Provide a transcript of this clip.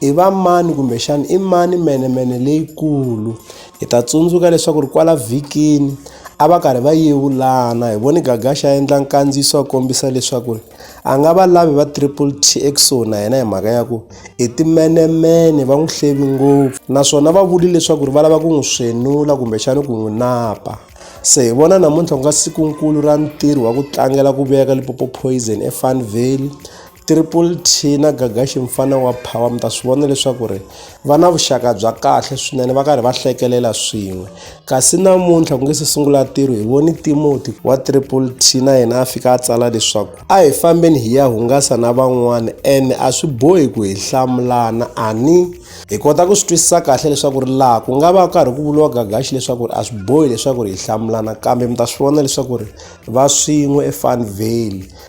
I va mani kumbexana i mani menemene leyikulu hi ta tsundzuka leswaku ri kwala vhikini a va karhi va yevulana hi voni gagaxa a endla nkandziyiso a kombisa leswaku ri a nga va lavi va triple t ekusuhi na yena hi mhaka ya ku i timenemene va n'wi hlevi ngopfu naswona va vuli leswaku ri va lava ku n'wi swenula kumbexana ku n'wi napa se hi vona namuntlha ku nga sikunkulu ra ntirho wa ku tlangela ku veka lipopo poison efan valley Triple T na Gagashi mfana wa power mi ta swi vona leswaku ri va na vuxaka bya kahle swinene va karhi va hlekelela swin'we kasi namuntlha ku nge se sungula ntirho hi voni Timothy wa Triple T na yena a fika a tsala leswaku a hi fambeni hi ya hungasa na van'wana ene a swi bohi ku hi hlamulana ani hi kota ku swi twisisa kahle leswaku ri laha ku nga va karhi ku vuriwa Gagashi leswaku ri a swi bohi leswaku ri hi hlamulana kambe mi ta swi vona leswaku ri va swin'we eFanvale